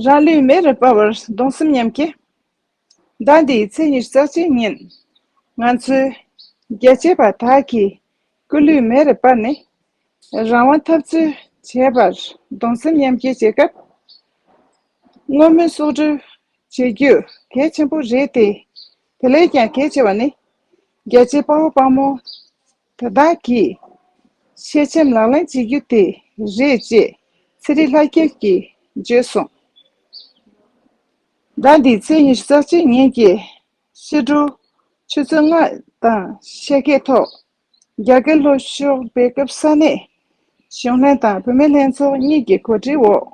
རང་ལུས་མེ་རུ་སྤར་བར་གདུང་སེམས་མཉམ་སྐྱེ། ཟླ་འདིའི་ཚེས་ཉེར་གསར་བརྗེའི་ཉིན། ང་ཚོའི་རྒྱལ་གཅེས་པ་དག་གིས་སྐུ་ལུས་མེ་རུ་སྤར་ནས། རང་དབང་འཐབ་རྩོད་བྱེད་པར་གདུང་སེམས་མཉམ་སྐྱེ་བྱེད་སྐབས། བསྔོ་སྨོན་གསོག་སྒྲུབ་བྱེད་རྒྱུ་གལ་ཆེན་པོ་རེད་དེ། དེ་ལས་ཀྱང་གལ་ཆེ་བ་ནི། རྒྱལ་གཅེས་དཔའ་བོ་དཔའ་མོ་དེ་དག་གིས། ཤེས་བྱའམ་ལག་ལེན་བྱེད་རྒྱུ་དེ་རེད་ཅེས་ཚེ་རིང་ལྷ་རྒྱལ་གྱིས་བརྗོད་སོང། ཟླ་འདིའི་ཚེས་ཉི་ཤུ་རྩ་གཅིག་ཉིན་གྱི་ཕྱི་དྲོ་ཆུ་ཚོད་ལྔ་དང་ཕྱེད་ཀའི་ཐོག་རྒྱ་གར་ལྷོ་ཕྱོགས་སྦེལ་ཀབ་ས་གནས་གཞུང་ལྷན་དང་བུད་མེད་ལྷན་ཚོགས་གཉིས་ཀྱི་གོ་སྒྲིག་འོག་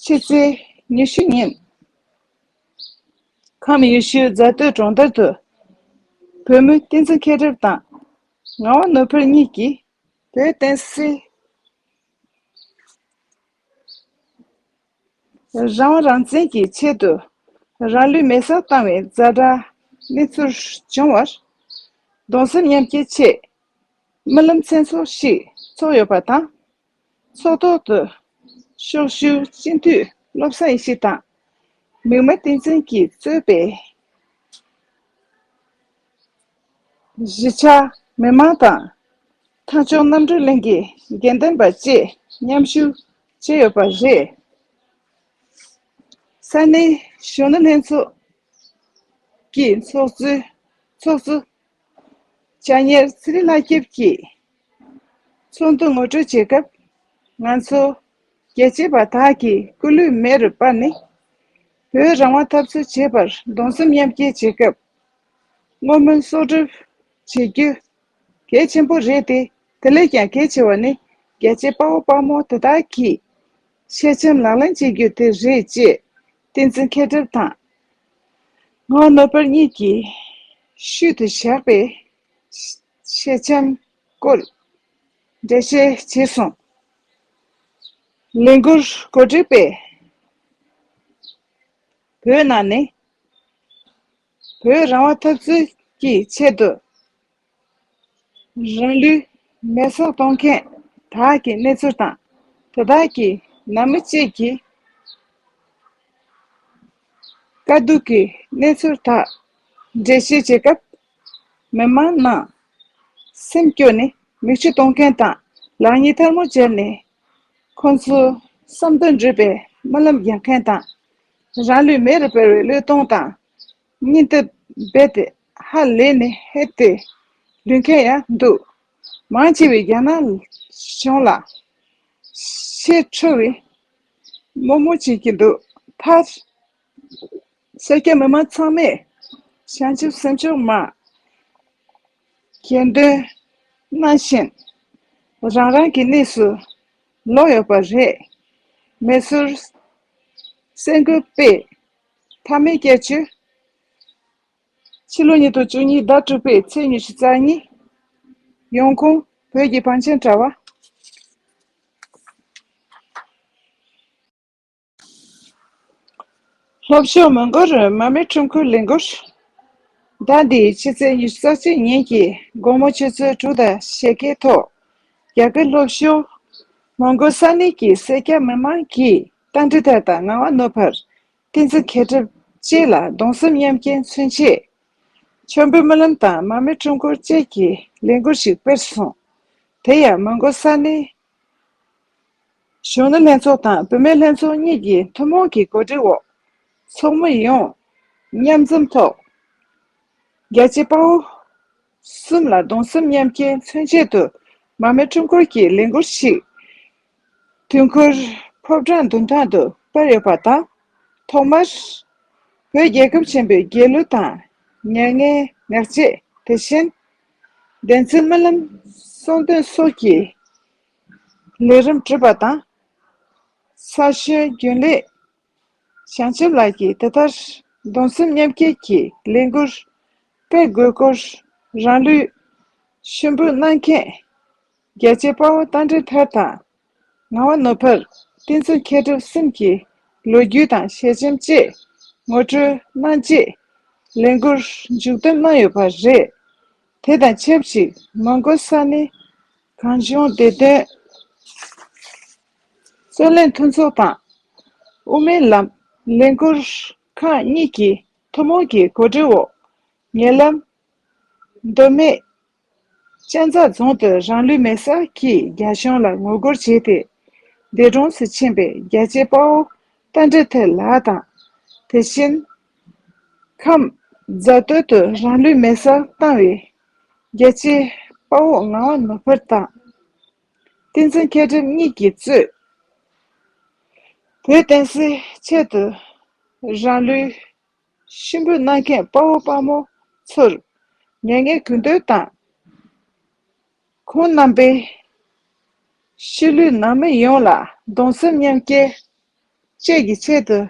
ཕྱི་ཚེས་ཉི་ཤུ་ཉིན་ཁམས་ཡུལ་ཤུལ་རྫ་སྟོད་གྲོང་རྡལ་དུ། བོད་མི་བསྟན་འཛིན་མཁས་གྲུབ་དང། ངག་དབང་ནོར་འཕེལ་གཉིས་ཀྱིས། བོད་བསྟན་སྲིད། རང་དབང་རང་བཙན་གྱི་ཆེད་དུ། རང་ལུས་མེ་སར་བཏང་བའི་རྫ་དྲག་མི་ཚུར་བྱུང་བར། གདུང་སེམས་མཉམ་སྐྱེད་ཆེད། རྨི་ལམ་མཚན་ཚོགས་ཤིག་འཚོགས་ཡོད་པ་དང། ཚོགས་ཐོག་ཏུ་ཤོག་ཞུ་སྤྱི་འཐུས་བློ་བཟང་ཡེ་ཤེས་དང། མིག་དམར་བསྟན་འཛིན་གྱིས་གཙོས་པའི་གཞིས་ཆགས་མི་མང་དང། ཐང་ཆུང་གནམ་གྲུ་གླིང་གི་དགེ་འདུན་པ་བཅས་མཉམ་ཞུགས་བྱས་ཡོད་པ་རེད། ས་གནས་གཞོན་ནུ་ལྷན་ཚོགས་ཀྱི་ཚོགས་གཙོ་ལྕགས་གཉེར་ཚེ་རིང་ལགས་སྐྱབས་ཀྱིས་ཚོགས་འདུ་ངོ་སྤྲོད་བྱེད་སྐབས། ང་ཚོ་རྒྱལ་གཅེས་པ་དག་གིས་སྐུ་ལུས་མེ་རུ་སྤར་ནས་བོད་རང་དབང་འཐབ་རྩོད་བྱེད་པར་གདུང་སེམས་མཉམ་སྐྱེད་བྱེད་སྐབས། བསྔོ་སྨོན་གསོག་སྒྲུབ་བྱེད་རྒྱུ་གལ་ཆེན་པོ་རེད་དེ་དེ་ལས་ཀྱང་གལ་ཆེ་བ་ནི་རྒྱལ་གཅེས་དཔའ་བོ་དཔའ་མོ་དེ་དག་གིས་ཤེས་བྱའམ་ལག་ལེན་བྱེད་རྒྱུ་དེ་རེད་ཅེས་བསྟན་འཛིན་མཁས་གྲུབ་དང། སྔགས་ནོར་བར་གཉིས་ཀྱིས། ཤུལ་དུ་བཞག་པའི། ཤེལ་ཆེམ་བཀོད། འགྲེལ་བཤད་བྱེད་གསུངས། ལས་འགུར་གོ་སྒྲིག་པས། བོད་ནང་ནས། བོད་རང་དབང་འཐབ་རྩོད་ཀྱི་ཆེད་དུ། རང་ལུས་མེར་སྲེག་གཏོང་མཁན་དག་གི་གནས་ཚུལ་དང་དེ་དག་གི་ནང་མི་གཅིག་གིས་དཀའ་སྡུག་གི་གནས་ཚུལ་དག་འགྲེལ་བཤད་བྱེད་སྐབས། མི་མང་ནང་སེམས་སྐྱོ་ནས་མིག་ཆུ་གཏོང་མཁན་དང་ལག་གཉིས་ཐལ་མོ་སྦྱར་ནས་ཁོ་ཚོའི་བསམ་དོན་འགྲུབ་པའི་སྨོན་ལམ་རྒྱག་མཁན་དང། རང་ལུས་མེ་རུ་སྦར་བའི་བློས་གཏོང་དང་གཉིས་འདབ་རྦད་དེ་ཧ་ལས་ནས་ཧད་དེ་ལུས་མཁན་ཡང་འདུག། མང་ཆེ་བས་རྒྱ་ནག་གཞུང་ལ་ཤེས་འཕྲོ་བའི་དམོད་མོ་བྱེད་ཀྱི་འདུག་མཐར། ས་སྐྱ་མི་མང་ཚང་མས་བྱང་ཆུབ་སེམས་མཆོག་མ། གྱེར་འདོན་གནང་བཞིན་རང་རང་གི་གནས་སུ་ལོག་ཡོད་པ་རེད། མེ་སོར་སེ་འགུལ་སྤེལ་ཐབས་མེད་སྐད་ཆོས། ཕྱི་ལོ་ཉིས་སྟོང་བཅུ་གཉིས་ཟླ་དྲུག་པའི་ཚེས་ཉི་ཤུ་རྩ་གཉིས། ཡོང་ཁུངས། བོད་ཀྱི་བང་ཆེན་དྲ་བ། ལྷོ་ཕྱོགས་མོན་གྷོ་རུ་མ་མའི་ཁྲོམ་ཁུལ་ལས་འགུལ། ཟླ་འདིའི་ཕྱི་ཚེས་ཉི་ཤུ་རྩ་གཅིག་ཉིན་གྱི་དགོང་མོ་ཆུ་ཚོད་དྲུག་དང་ཞེ་བརྒྱད་ཐོག་རྒྱ་གར་ལྷོ་ཕྱོགས་མོན་གྷོ་ས་གནས་ཀྱི་སེར་སྐྱ་མི་མང་གིས་རྟ་མགྲིན་ཐད་དང་ངང་བ་ནོར་བར་ཏིང་འཛིན་མཁས་གྲུབ་བཅས་ལ་གདུང་སེམས་མཉམ་སྐྱེའི་མཚོན་ཆེད། མཆོད་འབུལ་སྨོན་ལམ་དང་མར་མེ་སྤྲུལ་འཁོར་བཅས་ཀྱི་ལས་འགུལ་ཞིག་སྤེལ་གསུངས། དེ་ཡང་མོན་གྷོ་ས་གནས། གཞོན་ནུ་ལྷན་ཚོགས་དང་བུད་མེད་ལྷན་ཚོགས་གཉིས་ཀྱི་ཐུན་མོང་གི་གོ་སྒྲིག་འོག་ཚོགས་མི་ཡོངས་མཉམ་འཛོམས་ཐོག་རྒྱལ་གཅེས་དཔའ་བོ་གསུམ་ལ་གདུང་སེམས་མཉམ་སྐྱེའི་མཚོན་ཆེད་དུ་མར་མེ་སྤྲུལ་འཁོར་གྱི་ལས་འགུལ་ཞིག་དུས་འཁོར་ཕོབ་གྲངས་བདུན་ཐང་དུ་སྤར་ཡོད་པ་དང། ཐོག་མར། བོད་རྒྱལ་ཁབ་ཆེན་པོའི་རྒྱལ་གླུ་དང། མྱ་ངན་ངག་བཅད་དེ་བཞིན། བདེན་བརྩོན་སྨོན་ལམ་གསུང་འདོན་སོགས་ཀྱི་ལས་རིམ་གྲུབ་པ་དང། ས་གཞོན་རྒྱུན་ལས་བྱང་ཆུབ་ལགས་ཀྱིས་དེ་ལྟར་གདུང་སེམས་མཉམ་སྐྱེད་ཀྱི་ལས་འགུར་སྤེལ་དགོས་སྐོར་རང་ལུས་ཤུན་འབུལ་གནང་མཁན། རྒྱལ་བྱེད་དཔའ་བོ་རྟ་མགྲིན་ཐར་དང། ངག་དབང་ནོར་བུ། བསྟན་འཛིན་མཁས་གྲུབ་གསུམ་གྱི། ལོ་རྒྱུས་དང་ཞལ་ཆེམས་བཅས། ངོ་སྤྲོད་གནང་རྗེས། ལས་མགུར། མཇུག་བསྡོམས་གནང་ཡོད་པ་རེད། དེ་དང་ཆབས་ཅིག་མོན་གྷོ་ས་གནས། གངས་ལྗོངས་བདེ་དོན། རྩོད་ལེན་མཐུན་ཚོགས་དང། དབུ་མའི་ལམ། ལས་མགུར། ཁང་གཉིས་ཀྱིས་ཐུན་མོང་གི་གོ་སྒྲིག་འོག། ཉེ་ལམ། མདོ་སྨད། སྤྱན་རྩ་རྫོང་དུ་རང་ལུས་མེར་སྲེག་གིས་རྒྱ་གཞུང་ལ་ངོ་རྒོལ་བྱས་ཏེ། འདས་གྲོངས་སུ་ཕྱིན་པའི་རྒྱལ་གཅེས་དཔའ་བོ་རྟ་མགྲིན་ཐེ་ལགས་དང། དེ་བཞིན། ཁམས། རྫ་སྟོད་དུ་རང་ལུས་མེར་སྲེག་བཏང་བའི། རྒྱལ་གཅེས་དཔའ་བོ་ངག་དབང་ནོར་བུ་དང། བསྟན་འཛིན་མཁས་གྲུབ་གཉིས་ཀྱིས་གཙོས། བོད་བསྟན་སྲིད་ཆེད་དུ་རང་ལུས། གཤིན་པོའི་རྣ་མཁན་དཔའ་བོ་དཔའ་མོ་ཚོར། མྱ་ངན་གུས་འདུད་དང། ཁོང་རྣམ་པའི། གཤིས་ལུས་ནང་མི་ཡོངས་ལ་གདུང་སེམས་མཉམ་སྐྱེ། བཅས་ཀྱི་ཆེད་དུ།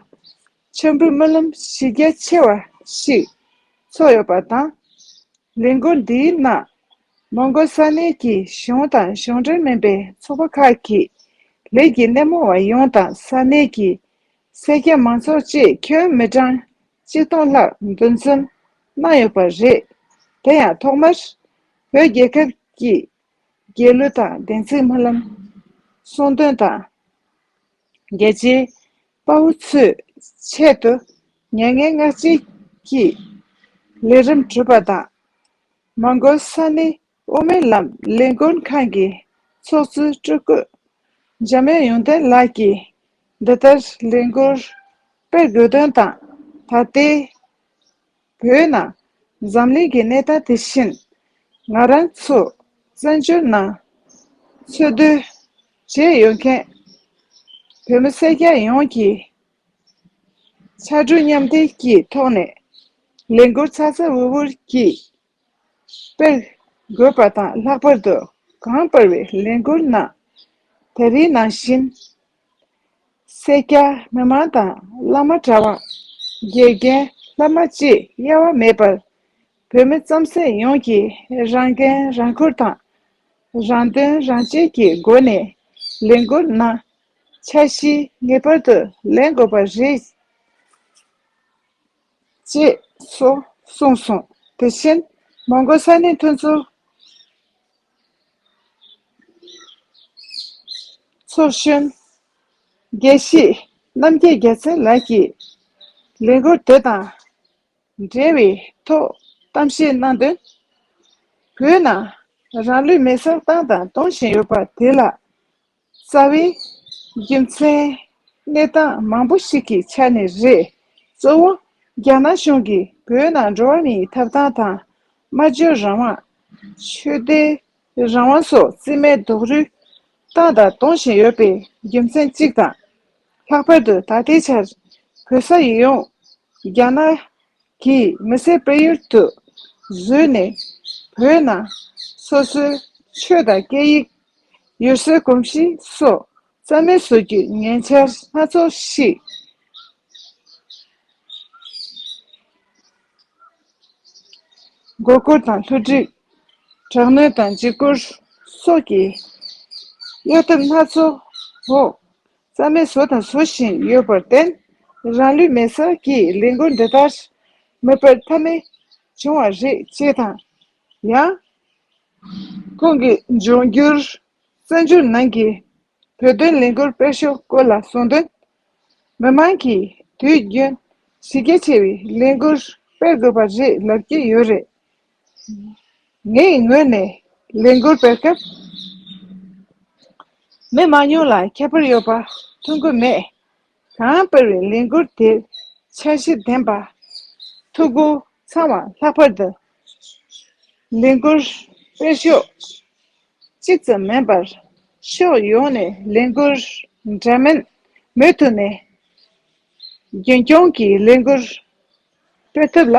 མཆོད་འབུལ་སྨོན་ལམ་གཞི་རྒྱ་ཆེ་བ་ཞིག་ཚོགས་ཡོད་པ་དང། ལས་འགུལ་འདིའི་ནང། མོང་གོལ་ས་གནས་ཀྱི་གཞུང་དང་གཞུང་འབྲེལ་མིན་པའི་ཚོགས་པ་ཁག་གིས་ལས་ཀྱི་སྣེ་མོ་བ་ཡོངས་དང་ས་གནས་ཀྱི་སེར་སྐྱ་མང་ཚོགས་བཅས་ཁྱོན་མི་གྲངས་གཅིག་སྟོང་ལྷག་འདུ་འཛོམས་གནང་ཡོད་པ་རེད། དེ་ཡང་ཐོག་མར་བོད་རྒྱལ་ཁབ་ཀྱི་རྒྱལ་གླུ་དང་བདེན་ཚིག་སྨོན་ལམ་གསུང་འདོན་དང། རྒྱལ་གཅེས་དཔའ་བོ་ཚོས་ཆེད་དུ་མྱ་ངན་ངག་བཅད་ཀྱིས་ལས་རིམ་གྲུབ་པ་དང། མོང་གོལ་ས་གནས་དབུ་མའི་ལམ་ལས་འགུལ་ཁང་གི་ཚོགས་གཙོའི་སྤྲུལ་སྐུ། འཇམ་དབྱངས་ཡོན་ཏན་ལགས་ཀྱིས་འདི་ལྟར་ལས་འགུལ་སྤེལ་དགོས་དོན་དང། ད་ལྟའི་བོད་ནང་འཛམ་གླིང་གི་གནས་སྟངས་དེ་བཞིན། ང་རང་ཚོ་བཙན་བྱོལ་ནང་འཚོ་སྡོད་བྱས་ཡོད་མཁན་བོད་མི་སེར་སྐྱ་ཡོངས་ཀྱིས་ཕྱར་གྲུ་མཉམ་འདེགས་ཀྱི་ཐོག་ནས་ལས་འགུལ་ཚ་ཚ་འུར་འུར་གྱིས་སྤེལ། དགོས་པ་དང་ལྷག་པར་དུ་གངས་སྤར་བའི་ལས་འགུལ་གནང། ད་རིང་ནང་བཞིན། སེར་སྐྱ་མི་མང་དང་བླ་མ་གྲྭ་བ། དགེ་རྒན་ལྷ་མ་བཅས་གཡེལ་བ་མེད་པར། བོད་མི་རྩམ་ཟན་ཡོངས་ཀྱིས་རང་འགན་རང་འཁུར་དང། རང་དོན་རང་གཅེས་ཀྱི་སྒོ་ནས་ལས་འགུལ་གནང། འཆར་གཞི་ངེས་པར་དུ་ལེན་དགོས་པ་རེད། ཅེས་སོ། གསུངས་སོ། དེ་བཞིན་མོང་གོལ་ས་ནི་ཐུན་ཚོད་གཞོན། དགེ་བཤེས་རྣམ་རྒྱལ་རྒྱལ་མཚན་ལགས་ཀྱིས་ལས་འགུལ་དེ་དང་འབྲེལ་བའི་ཐོག་གཏམ་བཤད་གནང་དོན། བོད་ནང་རང་ལུས་མེར་སྲེག་བཏང་དང་གཏོང་བཞིན་ཡོད་པ་དེ་ལ་རྩ་བའི། རྒྱུ་མཚན། གནས་སྟངས་མང་པོ་ཞིག་གི་ཆ་ནས་རེད། གཙོ་བོ། རྒྱ་ནག་གཞུང་གིས་བོད་ནང་འགྲོ་བ་མིའི་ཐབ་ཐང་དང། སྨྲ་བརྗོད་རང་དབང། ཆོས་དད། རང་དབང་སོགས་རྩིས་མེད་རྡོག་རུལ། བཏང་དང་གཏོང་བཞིན་ཡོད་པའི་རྒྱུ་མཚན་གཅིག་དང། ལྷག་པར་དུ་ད་ལྟའི་ཆར། བོད་ས་ཡིག་ཡོངས། རྒྱ་ནག་གིས་མི་སེར་སྤེལ་ཡུལ་དུ་བཟོས་ནས་བོད་ནང་སོ་སོའི་ཆོས་དང་སྐད་ཡིག། ཡུལ་སྲོལ་གོམས་གཤིས་སོགས་རྩ་མེད་བཟོ་རྒྱུའི་ཉེན་ཆ་སྣ་ཚོགས་ཤིག་མགོ་སྐོར་དང་ལྷུ་སྒྲིག། དྲག་གནོན་དང་འཇིགས་སྐུལ་སོགས་ཀྱི་གཡོ་ཐབས་སྣ་ཚོགས་འོག་རྩ་མེད་བཟོ་དང་བཟོ་བཞིན་ཡོད་པར་བརྟེན། རང་ལུས་མེ་སར་གྱིས་ལས་འགུལ་འདི་ལྟར་མི་སྤེལ་ཐབས་མེད་བྱུང་བ་རེད་ཅེས་དང། ཡང། ཁོང་གིས་འབྱུང་འགྱུར་བཙན་བྱོལ་ནང་གི་བོད་དོན་ལས་འགུལ་སྤེལ་ཕྱོགས་སྐོར་ལ་གསུངས་དོན། མི་མང་གིས་དུས་རྒྱུན་གཞི་རྒྱ་ཆེ་བའི་ལས་འགུལ་སྤེལ་དགོས་པ་རེད་ལབ་ཀྱི་ཡོད་རེད། ངའི་ངོས་ནས་ལས་འགུལ་སྤེལ་སྐབས་མི་མང་ཉུང་ལ་ཁྱད་པར་ཡོད་པ་མཐོང་གི་མེད། གང་སྤེལ་བའི་ལས་འགུལ་དེར་འཆར་གཞི་ལྡན་པ། ཐུགས་ཁུར་ཚང་བ་ལྷག་པར་དུ། ལས་འགུལ་སྤེལ་ཕྱོགས་གཅིག་ཙམ་མིན་པར་ཕྱོགས་ཡོངས་ནས་ལས་འགུལ་འདྲ་མིན་མུ་མཐུད་ནས་རྒྱུན་སྐྱོང་གིས་ལས་འགུལ་སྤེལ་ཐབས་ལ་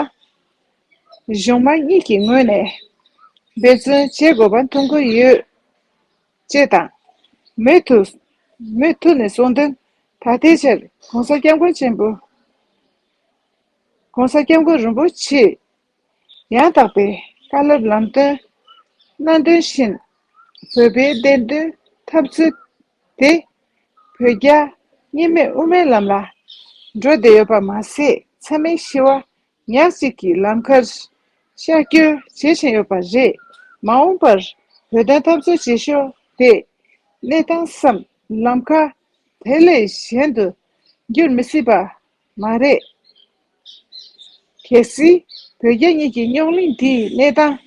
གཞུང་དམངས་གཉིས་ཀྱི་ངོས་ནས་འབད་བརྩོན་བྱེད་དགོས་པ་མཐོང་གི་ཡོད། ཅེས་དང། མུ་མཐུད་ནས་གསུང་དོན། ད་ལྟའི་ཆར ྋགོང་ས ྋསྐྱབས་མགོན་ཆེན་པོ ྋགོང་ས ྋསྐྱབས་མགོན་རིན་པོ་ཆེས་ཡང་དག་པའི་བཀའ་སློབ་ལམ་སྟོན། སྣ་འདོན་བཞིན་བོད་པའི་བདེན་དོན་འཐབ་རྩོད་དེ། བོད་རྒྱ། གཉིས་མེད་དབུ་མའི་ལམ་ལ། འགྲོ་བདེ་ཡོད་པར་མ་ཟད་ཚད་མའི་གཤིས་བ། ཉག་གཅིག་གི་ལམ་ཁར། ཤར་བསྐྱོད་བྱེད་བཞིན་ཡོད་པ་རེད། མ་འོངས་པར། བོད་དོན་འཐབ་རྩོད་བྱེད་ཤོག་དེས། གནས་སྟངས་སམ། ལམ་ཁ། དེ་ལས་གཞན་དུ། འགྱུར་མི་སྲིད་པ། མ་རེད། གལ་སྲིད། བོད་རྒྱ་གཉིས་ཀྱི་རྙོག་གླིང་འདིའི་གནས་སྟངས།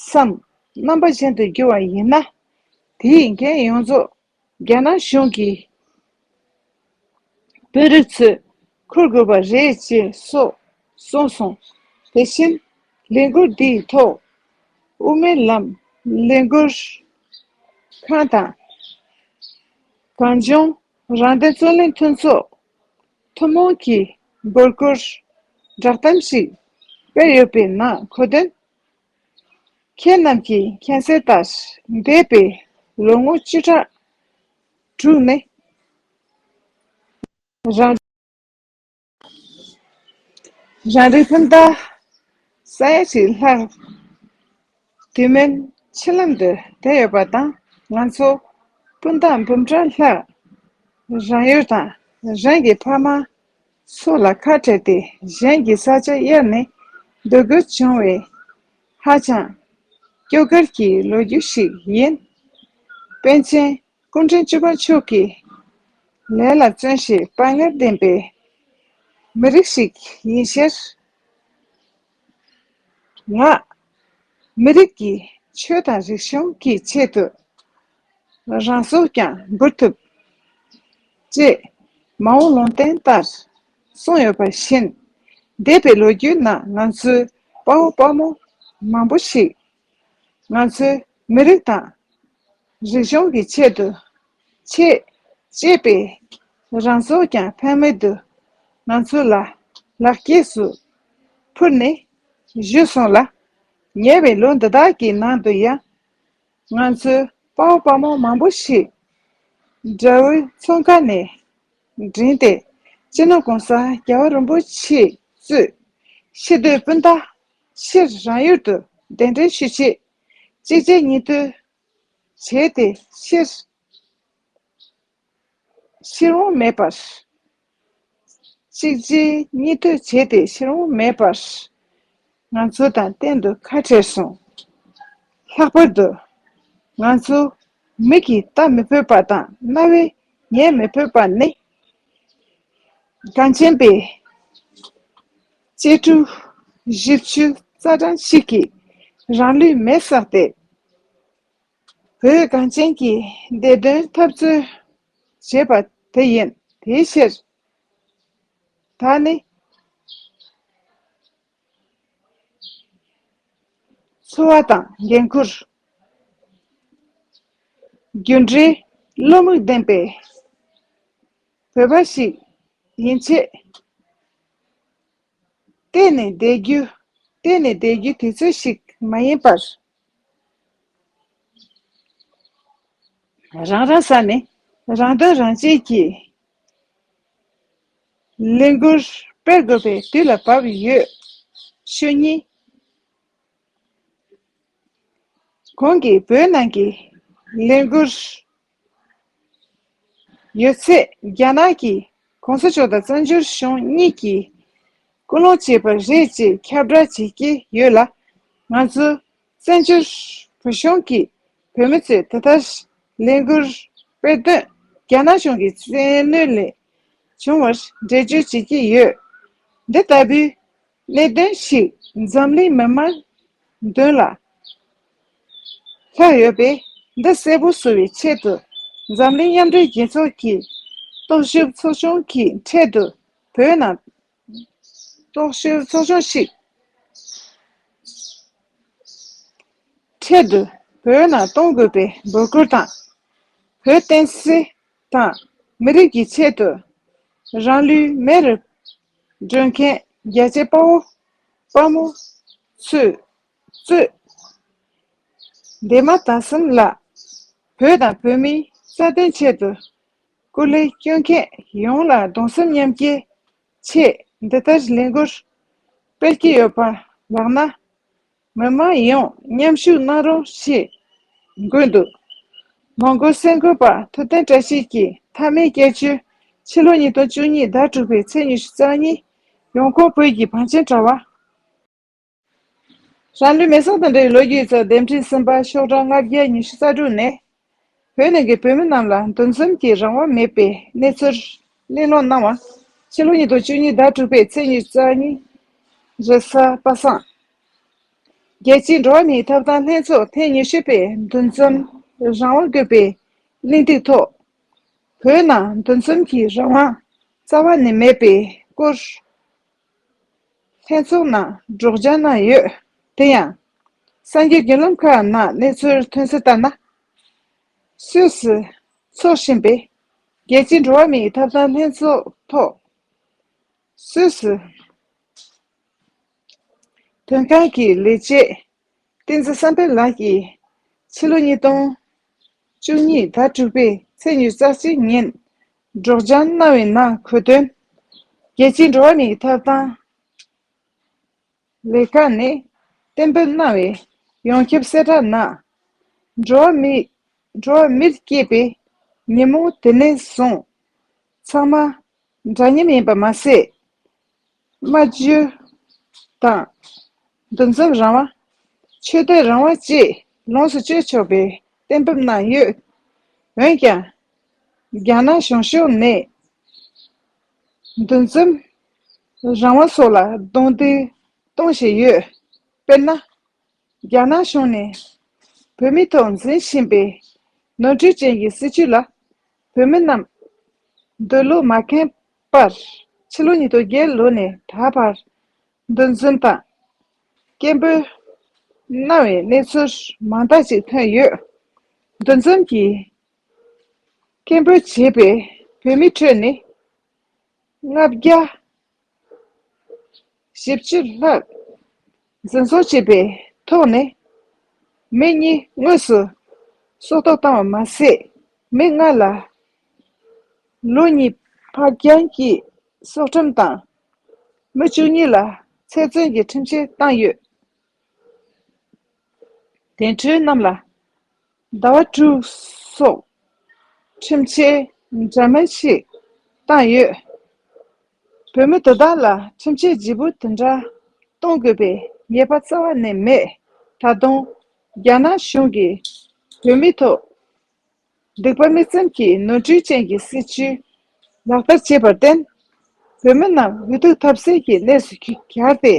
སམ། རྣམ་པ་གཞན་དུ་འགྱུར་བ་ཡིན་ན། དེ་ཡི་འགན་ཡོངས་རྫོགས་རྒྱ་ནག་གཞུང་གི་དཔོན་རིགས་ཚོས་འཁུར་དགོས་པ་རེད་ཅེས་སོགས་གསུངས་སོང། དེ་བཞིན་ལས་འགུལ་འདིའི་ཐོག་དབུ་མའི་ལམ་ལས་འགུལ་ཁང་དང། གངས་ལྗོངས་རང་བདེན་རྩོད་ལེན་མཐུན་ཚོགས་ཐུན་མོང་གིས་འབོད་སྐུལ་བསྒྲགས་གཏམ་ཞིག་སྤེལ་ཡོད་པའི་ནང་གོ་དོན་ཁྱེད་རྣམས་ཀྱིས་མཁྱེན་གསལ་ལྟར། འདས་པའི་ལོ་ངོ་བཅུ་ཕྲག་དྲུག་ནི། རང་རེའི་བུ་འདི། ས་ཡ་གཅིག་ལྷག་དེ་མིན་མཆིལ་ལམ་དུ་དེད་ཡོད་པ་དང་ང་ཚོ་སྤུན་ཟླ་འབུམ་ཕྲག་ལྷག་རང་ཡུལ་དང་རང་གི་ཕ་མ་སོགས་ལ་ཁ་བྲལ་ཏེ་གཞན་གྱི་ས་ཆ་གཡར་ནས་སྡོད་དགོས་བྱུང་བས། ཧ་ཅང་སྐྱོ་གར་གྱི་ལོ་རྒྱུས་ཤིག་ཡིན། པཎ་ཆེན་སྐུ་ཕྲེང་བཅུ་པ་མཆོག་གིས་ལས་ལ་བརྩོན་ཞེས་དཔའ་ངར་ལྡན་པའི་མི་རིགས་ཤིག་ཡིན་ཕྱིར། ལྔ། མི་རིགས་ཀྱི་ཆོས་དང་རིག་གཞུང་གི་ཆེད་དུ་རང་སྲོག་ཀྱང་འབུལ་ཐུབ། ཅེས་མ་འོངས་ལུང་བསྟན་ལྟར་གསུངས་ཡོད་པ་བཞིན། འདས་པའི་ལོ་རྒྱུས་ནང་ང་ཚོའི་དཔའ་བོ་དཔའ་མོ་མང་པོ་ཞིག་ང་ཚོའི་མི་རིགས་དང། རིག་གཞུང་གི་ཆེད་དུ་ཆེད་གཅེས་པའི་རང་ཚོགས་ཀྱང་ཕན་མེད་དུ་ང་ཚོ་ལ་ལག་སྐྱེས་སུ་ཕུལ་ནས་བཞུད་སོང་ལ། ཉེ་བའི་ལོ་འདི་དག་གི་ནང་དུ་ཡང་ང་ཚོའི་དཔའ་བོ་དཔའ་མོ་མང་པོ་ཞིག་དགྲ་བོའི་ཚོང་ཁ་ནས་འདྲེན་ཏེ་སྤྱི་ནོར ྋགོང་ས ྋརྒྱལ་བ་རིན་པོ་ཆེས་གཙོས་ཕྱི་སྡོད་སྤུན་ཟླ་ཕྱིར་རང་ཡུལ་དུ་གདན་འདྲེན་ཞུ་ཆེད། གཅིག་རྗེས་གཉིས་མཐུད་བྱས་ཏེ་ཕྱིར། ཕྱིར་འོང་མེད་པར། གཅིག་རྗེས་གཉིས་མཐུད་བྱས་ཏེ་ཕྱིར་འོང་མེད་པར། ང་ཚོ་དང་གཏན་དུ་ཁ་བྲལ་སོང། ལྷག་པར་དུ། ང་ཚོ་མིག་གིས་ལྟ་མི་ཕོད་པ་དང་རྣ་བས་ཉན་མི་ཕོད་པ་ནི། གངས་ཅན་པའི། གཅེས་ཕྲུག་བཞི་བཅུ་རྩ་གྲངས་ཤིག་གིས་རང་ལུས་མེ་བསགས་ཏེ། བོད་གངས་ཅན་གྱི་བདེ་དོན་འཐབ་རྩོད་བྱས་པ་དེ་ཡིན། དེའི་ཕྱིར། ད་ནི། འཚོ་བ་དང་འགན་ཁུར། རྒྱུ་འབྲས་བློ་མིག་ལྡན་པའི་བོད་པ་ཞིག་ཡིན་ཆེད། གཏན་ནས་བསྡད་རྒྱུ་གཏན་ནས་བསྡད་རྒྱུ་དེ་ཚོད་ཞིག་མ་ཡིན་པར། རང་རང་ས་ནས་རང་དོན་རང་གཅེས་ཀྱིས་ལས་འགུལ་སྤེལ་དགོས་པའི་དུས་ལ་བབ་ཡོད། ཤོས་གཉིས། གོང་གི་བོད་ནང་གི་ལས་འགུལ། ཡོད་ཚད་རྒྱ་ནག་གིས ྋགོང་ས་མཆོག་དང་བཙན་བྱོལ་གཞུང་གཉིས་ཀྱིས་སྐུལ་སློང་བྱས་པ་རེད་ཅེས་ཁྱབ་བསྒྲགས་བྱེད་ཀྱི་ཡོད་ལ། ང་ཚོ་བཙན་བྱོལ་བོད་གཞུང་གི་བོད་མི་ཚོས་དེ་ལྟར་ལས་འགུལ་སྤེལ་དོན་རྒྱ་ནག་གཞུང་གི་བཙན་གནོད་ལས་བྱུང་བར་འགྲེལ་བརྗོད་བྱེད་ཀྱི་ཡོད། འདི་ལྟ་བུའི་ལས་དོན་ཞིག་འཛམ་གླིང་མི་དམངས་དོན་ལ་ལྷག་ཡོད་པས་འདི་གསལ་པོ་བཟོ་བའི་ཆེད་དུ་འཛམ་གླིང་མཉམ་འབྲེལ་རྒྱལ་ཚོགས་ཀྱི་རྟོག་ཞིབ་ཚོགས་ཆུང་གིས་འཕྲལ་དུ་བོད་ནང་རྟོག་ཞིབ་ཚོགས་ཆུང་ཞིག་འཕྲལ་དུ་བོད་ནང་གཏོང་དགོས་པའི་འབོད་སྐུལ་དང། བོད་བསྟན་སྲིད་དང་མི་རིགས་ཀྱི་ཆེད་དུ་རང་ལུས་མེར་སྒྲོལ་མཁན། རྒྱལ་གཅེས་དཔའ་བོ། དཔའ་མོ། ཚུལ། གཙོས། འདས་མ་ད་གསུམ་ལ། བོད་དང་བོད་མིའི་རྩ་དོན་ཆེད་དུ། སྐུ་ལས་བསྐྱོན་མཁན་ཡོངས་ལ་གདུང་སེམས་མཉམ་སྐྱེའི་ཆེད་འདི་ལྟར་ལས་འགུལ་སྤེལ་གྱི་ཡོད་པ་ལགས་ན། མི་དམངས་ཡོངས་མཉམ་ཞུགས་གནང་རོགས་ཞེས་འབོད་འདུག་མོང་གོལ་སེང་གོལ་པ་ཐུབ་བསྟན་བཀྲ་ཤིས་ཀྱིས་མཐའ་མའི་སྐྱེད་མཆོད་ཕྱི་ལོ་ཉིས་སྟོང་བཅུ་གཉིས་ཟླ་དྲུག་པའི་ཚེས་ཉི་ཤུ་རྩ་གཉིས་ཡོངས་ཁོངས་བོད་ཀྱི་བང་ཆེན་དྲ་བ། རང་ལུས་མེ་བསྲེགས་དང་འབྲེལ་བའི་ལོ་རྒྱུས་གཙོས་དེབ་འཕྲིན་གསུམ་པ་ཤོག་གྲངས་ལྔ་བརྒྱ་ཉི་ཤུ་རྩ་དྲུག་ནས་བོད་ནང་གི་བོད་མི་རྣམས་ལ་འདུ་འཛོམས་ཀྱི་རང་དབང་མེད་པའི་གནས་ཚུལ་གླེང་སློང་གནང་བ། ཕྱི་ལོ་ཉིས་སྟོང་བཅུ་གཉིས་ཟླ་དྲུག་པའི་ཚེས་ཉེར་གཅིག་ཉིན་རེས་གཟའ་པ་སངས་རྒྱལ་སྤྱི་འགྲོ་བ་མིའི་ཐབ་ཐང་ལྷན་ཚོགས་ཐེངས་ཉི་ཤུ་པའི་འདུ་འཛོམས་རང་དབང་དགོས་པའི་གླེང་སྟེགས་ཐོག་བོད་ནང་འདུ་འཛོམས་ཀྱི་རང་དབང་རྩ་བ་ནས་མེད་པའི་སྐོར། ལྷན་ཚོགས་ནང་སྒྲོག་སྦྱང་གནང་ཡོད། དེ་ཡང། སངས་རྒྱས་དགེ་སློང་ཁག་ནང་གནས་ཚུལ་ཐོན་གསལ་ལྟར་ན། སུད་སི་ཚོགས་ཆེན་པས་རྒྱལ་སྤྱིའི་འགྲོ་བ་མིའི་ཐབ་ཐང་ལྷན་ཚོགས་ཐོག་སུད་སི་དོན་ཁང་གི་ལས་བྱེད་བསྟན་འཛིན་བསམ་འཕེལ་ལགས་ཀྱིས་ཕྱི་ལོ་ཉིས་སྟོང་བཅུ་གཉིས་ཟླ་དྲུག་པའི་ཚེས་ཉེར་གསར་བཅད་ཉིན་སྒྲོག་སྦྱང་གནང་བའི་ནང་འཁོད་དོན། རྒྱལ་སྤྱིའི་འགྲོ་བ་མིའི་ཐོབ་ཐང་ལས་ཁང་ནས་གཏན་འབེབས་གནང་བའི་ཡོངས་ཁྱབ་གསལ་བསྒྲགས་ནང། འགྲོ་བ་མིའི་འགྲོ་བ་མིར་སྐྱེས་པའི་ཉིན་མོ་དེ་ནས་བཟུང་ཚང་མ་འདྲ་མཉམ་ཡིན་པ་མ་ཟད། སྨྲ་བརྗོད་དང། འདུ་འཛོམས་རང་དབང། ཆོས་བསྟོད་རང་དབང་བཅས་ལོངས་སུ་སྤྱོད་ཆོག་པའི་གཏན་འབེབས་གནང་ཡོད། འོན་ཀྱང། རྒྱ་ནག་གཞུང་ཕྱོགས་ནས། འདུ་འཛོམས་རང་དབང་སོགས་ལ་རྡུང་རྡེག་གཏོང་བཞིན་ཡོད། དཔེར་ན། རྒྱ་ནག་གཞུང་ནས་བོད་མི་ཐོག་འཛིན་བཞིན་པའི་ནོར་འཁྲུལ་ཅན་གྱི་སྲིད་བྱུས་ལ་བོད་མི་རྣམས་འདོད་བློ་མ་ཁེངས་པར། ཕྱི་ལོ་ཉིས་སྟོང་བརྒྱད་ལོ་ནས་ད་བར། འདུ་འཛོམས་དང། སྐད་འབོད། གནང་བའི་གནས་ཚུལ་མང་དག་ཅིག་ཐོན་ཡོད། འདུ་འཛོམས་ཀྱིས། སྐད་འབོད་བྱེད་པའི་བོད་མི་ཁྲོད་ནས། ལྔ་བརྒྱ། བཞི་བཅུ་ལྷག། འཛིན་བཟུང་བྱས་པའི་ཐོག་ནས། མི་གཉིས་དངོས་སུ་སྲོག་ཐོག་བཏང་བ་མ་ཟད། མི་ལྔ་ལ་ལོ་གཉིས་ཕར་འགྱངས་ཀྱིས་སྲོག་ཁྲིམས་དང། མི་བཅུ་གཉིས་ལ་ཚེ་བཙོན་གྱི་ཁྲིམས་ཆད་བཏང་ཡོད། དེ་འཕྲོས་རྣམས་ལ་ཟླ་བ་དྲུག་སོགས་ཁྲིམས་ཆད་འདྲ་མིན་ཞིག་བཏང་ཡོད། བོད་མི་དེ་དག་ལ་ཁྲིམས་ཆད་ལྗིད་པོ་དེ་འདྲ་གཏོང་དགོས་པའི་ངེས་པ་རྩ་བ་ནས་མེད། ད་དུང་རྒྱ་ནག་གཞུང་གིས་བོད་མི་ཐོག་སྡིག་པ་མི་བཙན་གྱིས་ནོར་འཁྲུལ་ཅན་གྱི་སྲིད་བྱུས་ལག་བསྟར་བྱས་པར་བརྟེན། བོད་མི་རྣམས་འུ་ཐུག་ཐབས་ཟད་ཀྱི་གནས་སུ་གྱར་ཏེ་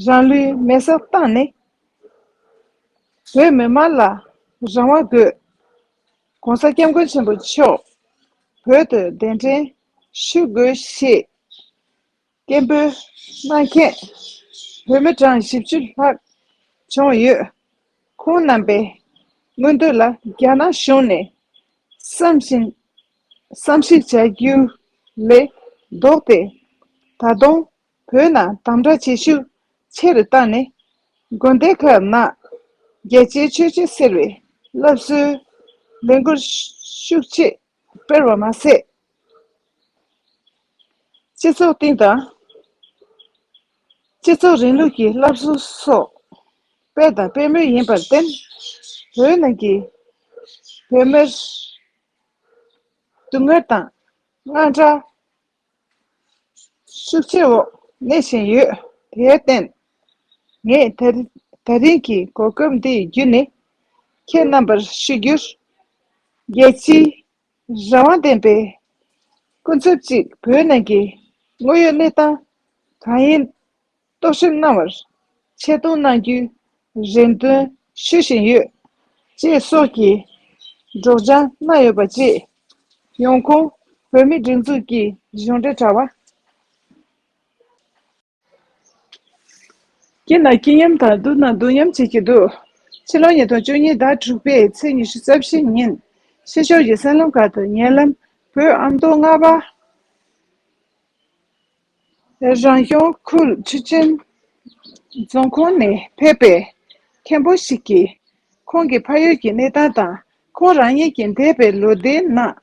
རང་ལུས་མེ་སར་བཏང་ནས། བོད་མི་དམངས་ལ་རང་དབང་དགོས། ྋགོང་ས ྋསྐྱབས་མགོན་ཆེན་པོ་མཆོག་བོད་དུ་གདན་འདྲེན་ཞུ་དགོས་ཞེས་སྐད་འབོད་གནང་མཁན་བོད་མི་གྲངས་བཞི་བཅུ་ལྷག་བྱུང་ཡོད། ཁོང་རྣམ་པའི་མངོན་འདོད་ལ་རྒྱ་ནག་གཞུང་ནས་བསམ་བཞིན་བསམ་གཞིག་བྱ་རྒྱུ་ལས་ལྡོག་སྟེ་ད་དུང་བོད་ནང་དམ་བསྒྲགས་བྱེད་ཤུགས་ཆེ་རུ་བཏང་ནས། དགོན་སྡེ་ཁག་ནང་རྒྱལ་གཅེས་ཆོས་གཅེས་ཟེར་བའི་སློབ་གསོའི་ལས་འགུལ་ཤུགས་ཆེ་སྤེལ་བ་མ་ཟད། སྤྱི་ཚོགས་སྟེང་དང། སྤྱི་ཚོགས་རིང་ལུགས་ཀྱི་སློབ་གསོ་སོགས་སྤེལ་དང་སྤེལ་མུས་ཡིན་པར་བརྟེན། བོད་ནང་གི་བོད་མིར་སྡུག་བསྔལ་དང་དངངས་སྐྲག་ཤུགས་ཆེ་བོ་གནས་བཞིན་ཡོད། དེར་བརྟེན། ངས་ད་རིང་གི་གོ་སྐབས་འདི་བརྒྱུད་ནས་ཁྱེད་རྣམ་པར་ཞུ་རྒྱུར། རྒྱལ་སྤྱིའི་རང་དབང་ལྡན་པའི་སྐུ་ཚབ་ཅིག་བོད་ནང་གི་དངོས་ཡོད་གནས་སྟངས་གང་ཡིན། རྟོག་ཞིབ་གནང་བར་ཆེད་གཏོང་གནང་རྒྱུའི་རེ་འདུན་ཞུ་བཞིན་ཡོད། ཅེས་སོགས་ཀྱི་སྒྲོག་སྦྱང་གནང་ཡོད་པ་བཅས་ཡོང་ཁུངས་བོད་མིའི་སྒྲིག་འཛུགས་ཀྱི་གཞུང་འབྲེལ་དྲ་བ། ཀྱི་ནང་སྐྱིད་ཉམས་དང་བསྡུར་ན་སྡུག་ཉམས་བྱེད་ཀྱི་འདུག་ཕྱི་ལོ་ཉིས་སྟོང་བཅུ་གཉིས་ཟླ་དྲུག་པའི་ཚེས་ཉི་ཤུ་རྩ་བཞི་ཉིན་ཕྱི་ཕྱོགས་ཀྱི་སྲན་ལམ་ཁག་ཏུ་ཉེ་ལམ་བོད་ཨམ་མདོ་རྔ་པ་རང་སྐྱོང་ཁུལ་ཆུ་ཆེན་རྫོང་ཁོངས་ནས་ཕེབས་པའི་མཁན་པོ་ཞིག་གིས་ཁོང་གི་ཕ་ཡུལ་གྱི་གནས་སྟངས་དང་ཁོང་རང་ཉིད་ཀྱི་འདས་པའི་ལོ་ཟླའི་ནང་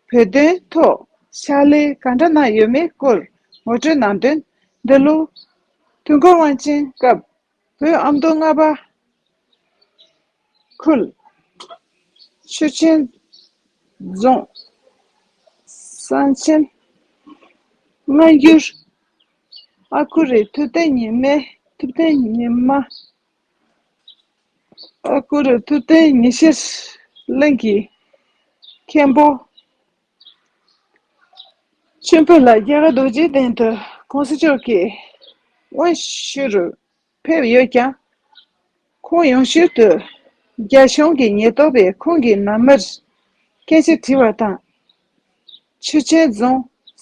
བོད་དོན་ཐོག་ཕྱག་ལས་ག་འདྲ་གནང་ཡོད་མེད་སྐོར་ངོ་སྤྲོད་གནང་དོན། འདི་ལོ་དུས་འཁོར་དབང་ཆེན་སྐབས། བུའི་ཨ་མདོ་རྔ་པ་ཁུལ། ཆུ་ཆེན་རྫོང། གསང་ཆེན། སྔ་འགྱུར། ཨ་ཁུ་རི་ཐུབ་བསྟན་ཉི་མའི་ཐུབ་བསྟན་ཉི་མ། ཨ་ཁུ་རི་ཐུབ་བསྟན་ཉི་ཤེས་གླིང་གི་མཁན་པོ། ཆེན་པོ་ལ་རྒྱལ་བ་རྡོ་རྗེའི་གདན་དུ་ཁོང་སྲིད་ཕྱོགས་ཀྱི་དབང་བཞི་རུ་ཕེབས་ཡོད་ཀྱང། ཁོང་ཡང་ཤུལ་དུ་རྒྱ་གཞུང་གི་ཉེན་རྟོག་པས་ཁོང་གི་ནང་མིར་སྐད་ཆ་དྲིས་པ་དང། ཆུ་ཆེན་རྫོང་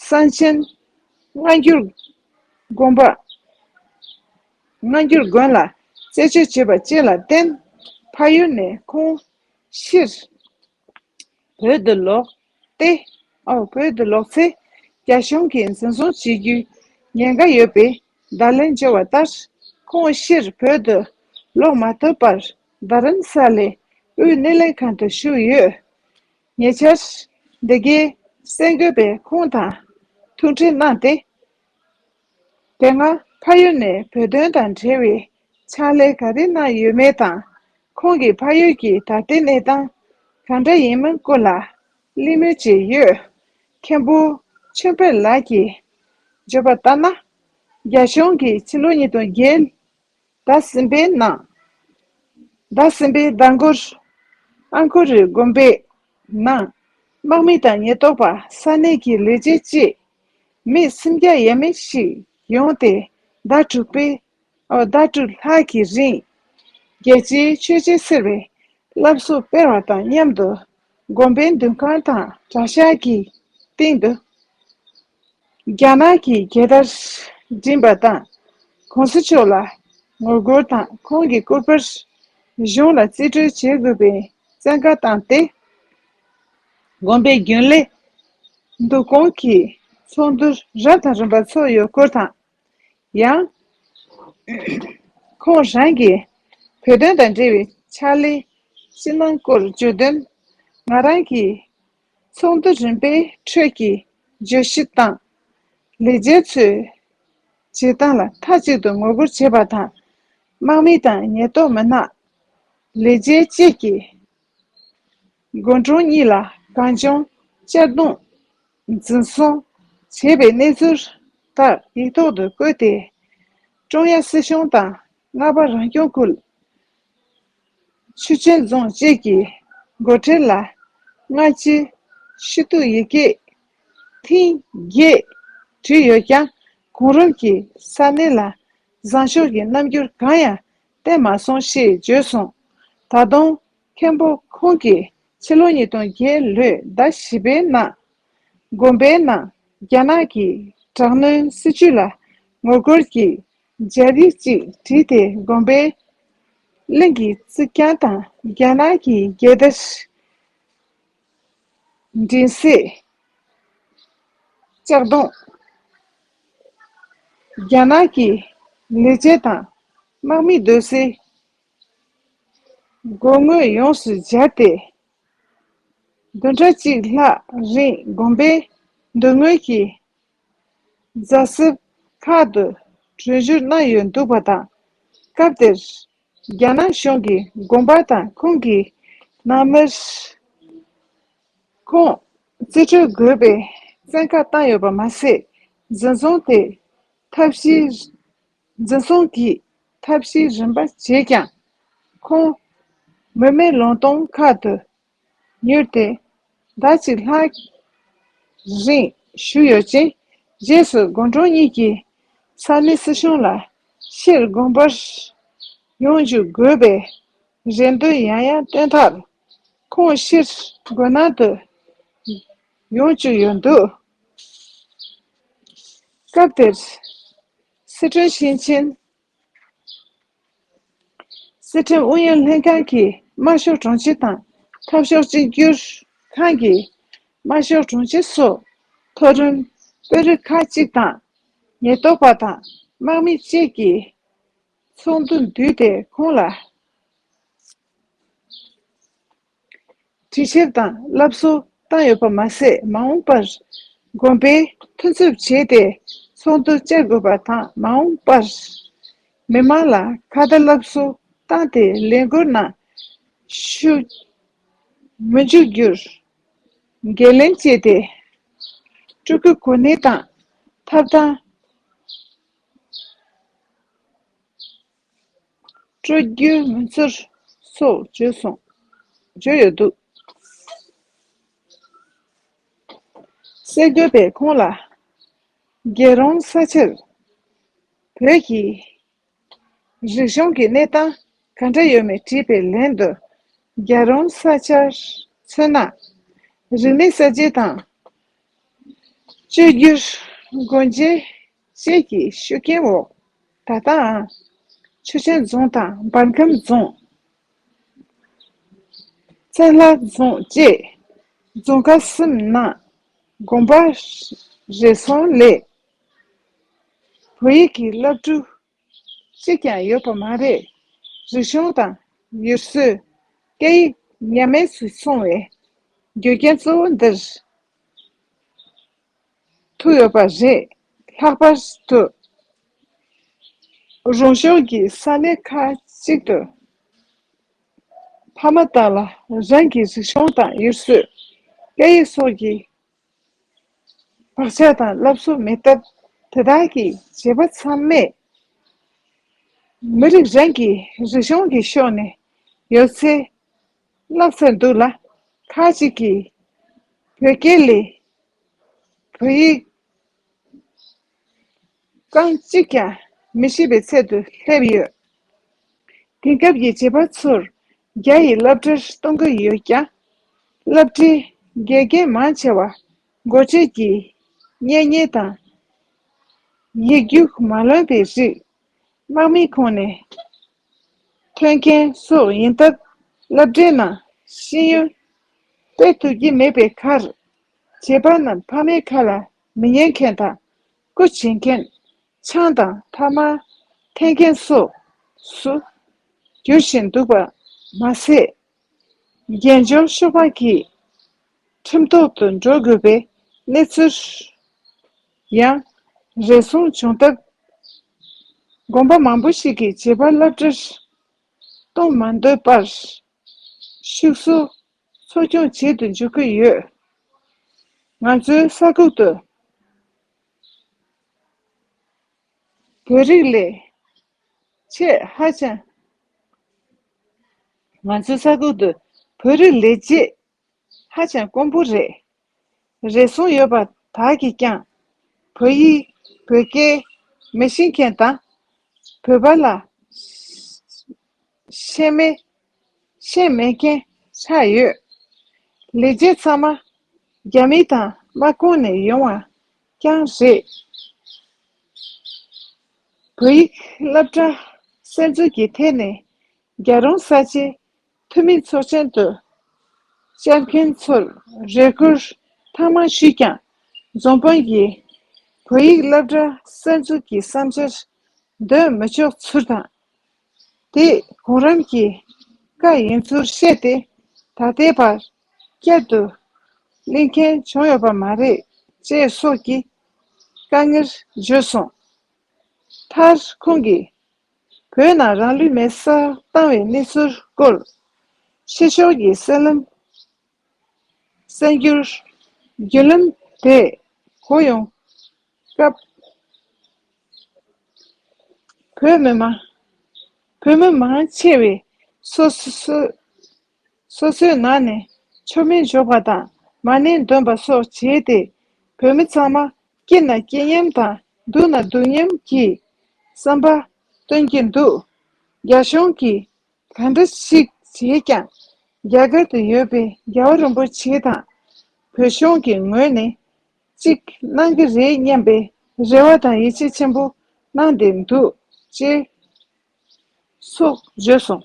གསང་ཆེན་སྔ་འགྱུར་དགོན་པ། སྔ་འགྱུར་དགོན་ལ་རྩད་གཅོད་བྱས་པ་བཅས་ལ་བརྟེན་ཕ་ཡུལ་ནས་ཁོང་ཕྱིར་བོད་དུ་ལོག་སྟེ། བོད་དུ་ལོག་ཚེ། རྒྱ་གཞུང་གིས་འཛིན་བཟུང་བྱེད་རྒྱུའི་ཉེན་ཁ་ཡོད་པས་བརྡ་ལན་འབྱོར་བ་ལྟར། ཁོང་ཕྱིར་བོད་དུ་ལོག་མ་ཐུབ་པར་རྡ་རམ་ས་ལའི་དབུས་སྣེ་ལེན་ཁང་དུ་བཞུགས་ཡོད། ཉེ་ཆར། འདི་གའི་སེང་གེ་པས་ཁོང་དང་ཐུག་འཕྲད་གནང་སྟེ། དེ་སྔ་ཕ་ཡུལ་ནས་བོད་དོན་དང་འབྲེལ་བའི་ཕྱག་ལས་ག་རེ་གནང་ཡོད་མེད་དང་ཁོང་གི་ཕ་ཡུལ་གྱི་ད་ལྟའི་གནས་སྟངས་གང་འདྲ་ཡིན་མིན་ཀུན་ལ་གླེང་མོལ་བྱས་ཡོད། མཁན་པོ་ཆོས་འཕེལ་ལགས་ཀྱིས་བརྗོད་པ་ལྟར་ན། རྒྱ་གཞུང་གིས་ཕྱི་ལོ་ཉིས་སྟོང་བརྒྱད་ཟླ་ཟིན་པའི་ནང་ཟླ་ཟིན་པའི་ཟླ་མགོར་ཨ་མཁོ་རི་དགོན་པའི་ནང་དམག་མི་དང་ཉེན་རྟོག་པ་ས་གནས་ཀྱི་ལས་བྱེད་བཅས་མི་སུམ་བརྒྱ་ཡས་མས་ཤིག་ཡོང་སྟེ་ཟླ་དྲུག་པའི་ཟླ་དྲུག་ལྷག་གི་རིང་རྒྱལ་སྤྱིའི་ཆོས་བྱེད་ཟེར་བའི་བསླབ་གསོ་སྤེལ་བ་དང་མཉམ་དུ་དགོན་པའི་འདུན་ཁང་དང་གྲྭ་ཤག་གི་སྟེང་དུ་རྒྱ་ནག་གི་རྒྱལ་དར་བསྒྲེངས་པ་དང་གོང་ས་མཆོག་ལ་ངོ་རྒོལ་དང་ཁོང་གི་སྐུ་པར་གཞུང་ལ་རྩིས་སྤྲོད་བྱེད་དགོས་པའི་བཙན་བཀའ་བཏང་སྟེ། དགོན་པའི་རྒྱུན་ལས་འདུ་སྐོང་གི་ཚོགས་འདུ་རབ་དང་རིམ་པ་ཚོགས་ཡོད་སྐོར་དང། ཡང། ཁོང་རང་གིས། བོད་དོན་དང་འབྲེལ་བའི་ཕྱག་ལས་ཕྱི་ནང་སྐོར་བརྗོད་དོན། ང་རང་གིས་ཚོགས་འདུ་རིམ་པའི་ཁྲོད་ཀྱི་བརྗོད་གཞི་དང། ལས་བྱེད་ཚོའི་བྱེད་སྟངས་ལ་མཐའ་གཅིག་ཏུ་ངོ་རྒོལ་བྱེད་པ་དང། དམག་མི་དང་ཉེན་རྟོག་མི་སྣ། ལས་བྱེད་བཅས་ཀྱིས་དགོན་གྲོང་གཉིས་ལ་གངས་ལྗོངས་གཅར་རྡུང། འཛིན་བཟུང་བྱས་པའི་གནས་ཚུལ་ཁག་ཡིག་ཐོག་ཏུ་བཀོད་དེ། ཀྲུང་དབྱང་སྲིད་གཞུང་དང་རྔ་པ་རང་སྐྱོང་ཁུལ། ཆུ་ཆེན་རྫོང་བཅས་ཀྱི་འགོ་ཁྲིད་ལ་སྔ་ཕྱིའི་ཤུལ་གཏུགས་ཡི་གེ་ཐེངས་བརྒྱད་བྲིས་ཡོད་ཀྱང་གོང་རིམ་གྱིས་ས་གནས་ལ་བཟང་ཕྱོགས་ཀྱི་རྣམ་འགྱུར་གང་ཡང་བསྟན་མ་སོང་ཞེས་བརྗོད་སོང། ད་དུང་མཁན་པོ་ཁོང་གིས་ཕྱི་ལོ་ཉིས་སྟོང་བརྒྱད་ལོའི་ཟླ་བཞི་པའི་ནང་དགོན་པའི་ནང་རྒྱ་ནག་གི་དྲག་གནོན་སྲིད་བྱུས་ལ་ངོ་རྒོལ་གྱི་མཇལ་རི་གཅིག་བྲིས་ཏེ་དགོན་པའི་གླིང་གི་རྩིག་གྱང་དང་རྒྱ་ནག་གི་རྒྱལ་དར་མགྲིན་གཟིགས་ལྕགས་སྡོང། རྒྱ་ནག་གི་ལི་ཆས་དང་དམག་མི་སྡོད་སའི་སྒོ་ངོས་ཡོངས་སུ་སྦྱར་ཏེ། བདུན་ཕྲག་གཅིག་ལྷག་རིང་བསྒོམས་པས་མདུན་ངོས་ཀྱི་རྫ་གསེབ་ཁག་ཏུ་གྲོལ་འགྱུར་སྣ་ཡོད་འདུག་པ་དང། སྐབས་དེར་རྒྱ་ནག་གཞུང་གི་དགོན་པ་དང་ཁུངས་ཀྱི་ནང་མིར་ཁུངས་རྩིས་སྤྲོད་དགོས་པའི་བཙན་བཀའ་བཏང་ཡོད་པ་མ་ཟད། འཛིན་བཟུང་དེ་ཐབས་ཤེས་འཛིན་བཟུང་གིས་ཐབས་ཤེས་རིམ་པ་བྱས་ཀྱང། ཁོང་མུ་མེད་ལུང་སྟོང་ཁ་ཏུ་ཉུལ་ཏེ། ཟླ་གཅིག་ལྷག་རིང་བཞུགས་ཡོད་ཅིང། རྗེས་སུ་དགོན་གྲོང་གཉིས་ཀྱི་ས་མི་སྲིད་གཞུང་ལ་ཕྱིར་དགོན་པར་ཡོང་འཇུག་དགོས་པའི་རེ་འདུན་ཡང་ཡང་བཏོན་མཐར། ཁོང་ཕྱིར་དགོན་ནང་དུ་ཡོང་བཅུག་ཡོད་འདུག། སྐབས་དེར། སི་ཁྲོན་ཞིང་ཆེན། སི་ཁྲོན་ཨུ་ཡོན་ལྷན་ཁང་གི་དམར་ཤོག་དྲུང་ཆེ་དང་འཐབ་ཕྱོགས་གཅིག་གྱུར་ཁང་གི་དམར་ཤོག་དྲུང་ཆེ་སོགས་མཐོ་རིམ་དཔོན་རིགས་ཁག་གཅིག་དང། ཉེན་རྟོག་པ་དང་དམག་མི་བཅས་ཀྱིས་ཚོགས་འདུ་བསྡུས་ཏེ་ཁོང་ལ། ཅི་ཕྱིར་དང་བསླབ་གསོ་བཏང་ཡོད་པ་མ་ཟད་མ་འོངས་པར་དགོན་པའི་མཐུན་ཚབ་བྱས་ཏེ་ཚོགས་འདུ་བཅར་དགོས་པ་དང་མ་འོངས་པར་མི་དམངས་ལ་ཁ་བརྡ་བསླབ་གསོ་བཏང་སྟེ་ལས་འགུལ་ནང་ཞུགས་མི་འཇུག་རྒྱུར་འགན་ལེན་བྱས་ཏེ་སྤྲུལ་སྐུའི་གོ་གནས་དང་ཐབས་དང། སྤྲོ་རྒྱུའི་ངོ་ཚར་སོགས་བརྗོད་ཡོད་འདུག། གསེར་འགྱུར་པས་ཁོང་ལ། རྒྱལ་རོང་ས་ཆར་བོད་ཀྱི་རིག་གཞུང་གི་གནས་སྟངས་ག་འདྲ་ཡོད་མེད་དྲིས་པའི་ལན་དུ། རྒྱལ་རོང་ས་ཆར་མཚོན་ན། རིག་གནས་གསར་བརྗེ་དང། བཅོས་བསྒྱུར་སྒོ་འབྱེད། བཅས་ཀྱི་ཤུགས་རྐྱེན་འོག་ད་ལྟའང། ཆུ་ཆེན་རྫོང་དང་འབར་ཁམས་རྫོང། བཙན་ལྷ་རྫོང་བཅས་རྫོང་ཁག་གསུམ་ནང་དགོན་པ་རེ་ཟུང་ལས་བོད་ཡིག་གི་བླ་སྤྲུལ་གཅིག་ཀྱང་ཡོད་པ་མ་རེད། རིག་གཞུང་དང་ཡུལ་སྲོལ་སྐད་ཡིག་ཉམས་དམས་སུ་སོང་བའི་རྒྱུ་རྐྱེན་གཙོ་བོ་འདིར། ཐུག་ཡོད་པ་རེད། ལྷག་པར་དུ། རོང་ཤོར་གྱི་ས་གནས་ཁག་གཅིག་ཏུ། ཕ་མ་དག་ལ་རང་གི་རིག་གཞུང་དང་ཡུལ་སྲོལ། སྐད་ཡིག་སོགས་ཀྱི་བག་ཆགས་དང་བསླབ་གསོ་མེད་སྟབས། དེ་དག་གི་བྱེད་པ་ཚང་མས། མི་རིགས་རང་གི་རིག་གཞུང་གི་ཕྱོགས་ནས་ཡོད་ཚད་བསླབས་ཚར་འདུག་ལ། ཁག་གཅིག་གིས་བོད་སྐད་ལས་བོད་ཡིག་རྐང་གཅིག་ཀྱང་མི་ཤེས་པའི་ཚད་དུ་སླེབས་ཡོད། དེང་སྐབས་ཀྱི་བྱིས་པ་ཚོར་རྒྱ་ཡི་བསླབ་གྲྭར་གཏོང་གི་ཡོད་ཀྱང། བསླབ་གྲྭའི་དགེ་རྒན་མང་ཆེ་བ་མགོ་ཁྲིད་ཀྱིས་གཉེན་ཉེ་དང། ཡིག་རྒྱུགས་མ་ལོན་པའི་རིགས། དམག་མིའི་ཁོངས་ནས་ཐོན་མཁན་སོགས་ཡིན་སྟབས་བསླབ་གྲྭའི་ནང་ཤེས་ཡོན་སྤེལ་ཐུབ་ཀྱི་མེད་པའི་ཁར། བྱེད་པ་རྣམས་ཕ་མའི་ཁ་ལ་མི་ཉན་མཁན་དང། སྐུ་བྱིན་མཁན། ཆང་དང་ཐ་མ་འཐེན་མཁན་སོགས་སུ་འགྱུར་བཞིན་འདུག་པ་མ་ཟད། རྒྱལ་འབྱོར་ཤོར་བ་གྱིས་ཁྲིམས་ཐོག་ཏུ་འགྲོ་དགོས་པའི་གནས་ཚུལ་ཡང་རེ་ཟུང་བྱུང་སྟབས། དགོན་པ་མང་པོ་ཞིག་གིས་བྱིས་པ་བསླབ་གྲྭར་གཏོང་མ་འདོད་པར། ཕྱུགས་གསོ་འཚོ་སྐྱོང་བྱེད་དུ་འཇུག་གི་ཡོད། ང་ཚོའི་ས་ཁུལ་དུ་བོད་རིགས་ལས་བྱེད་ཧ་ཅང་ང་ཚོའི་ས་ཁུལ་དུ་བོད་རིགས་ལས་བྱེད་ཧ་ཅང་དཀོན་པོ་རེད། རེ་ཟུང་ཡོད་པ་དག་གིས་ཀྱང། བོད་ཡིག། བོད་སྐད། མི་ཤེས་མཁན་དང། བོད་པ་ལ། ཤེས་མེད། ཤེས་མེད་མཁན་ཆགས་ཡོད། ལས་བྱེད་ཚང་མ། རྒྱ་མི་དང་དམག་ཁོངས་ནས་ཡོང་བ་རྐྱང་རེད། བོད་ཡིག་སླབ་གྲྭ། གསལ་འཛོལ་གྱི་ཐད་ནས། རྒྱ་རོང་ས་ཆའི། འཐུས་མི་ཚོགས་ཆེན་དུ་བཅར་མཁན་ཚོར་རེ་སྐུལ་ཐང་མང་ཞུས་ཀྱང། རྫོང་དཔོན་གྱིས་བོད་ཡིག་སློབ་གྲྭ་གསར་འཛུགས་ཀྱི་བསམ་འཆར་འདོན་མི་ཆོག་ཚུལ་དང། དེ་གོང་རིམ་གྱི་བཀའ་ཡིན་ཚུལ་བཤད་དེ་ད་ལྟའི་བར་བསྐྱར་དུ་གླེང་མཁན་བྱུང་ཡོད་པ་མ་རེད་ཅེས་སོགས་ཀྱི་དཀའ་ངལ་བརྗོད་སོང། མཐར་ཁོང་གིས་བོད་ནང་རང་ལུས་མེར་བསྲེགས་བཏང་བའི་གནས་ཚུལ་སྐོར། ཕྱི་ཕྱོགས་ཀྱི་གསལ་ལམ། གསལ་འགྱུར། བརྒྱུད་ལམ་དེས་གོ་ཡོང་སྐབས། བོད་མི་མང་ཆེ་བས་སོ་སོའི་སོ་སོའི་ནང་ནས་མཆོད་མེ་འཇོག་པ་དང་མ་ནི་འདོན་པ་སོགས་བྱས་ཏེ། བུད་མེད་ཚང་མ་སྐྱིད་ན་སྐྱིད་སྙམ་དང་སྡུག་ན་སྡུག་སྙམ་གྱིས། བསམ་པ། སྟོན་གྱི་འདུག། རྒྱ་གཞུང་གིས་ག་འདྲ་ཞིག་བྱས་ཀྱང། རྒྱ་གར་དུ་ཡོད་པའི་རྒྱལ་བ་རིན་པོ་ཆེ་དང། བོད་གཞུང་གི་ངོས་ནས་གཅིག་གནང་གི་རེད་སྙམ་པའི་རེ་བ་དང་ཡིད་ཆེས་ཆེན་པོ་གནང་བསྡད་འདུག་ཅེས། སོགས་བརྗོད་སོང།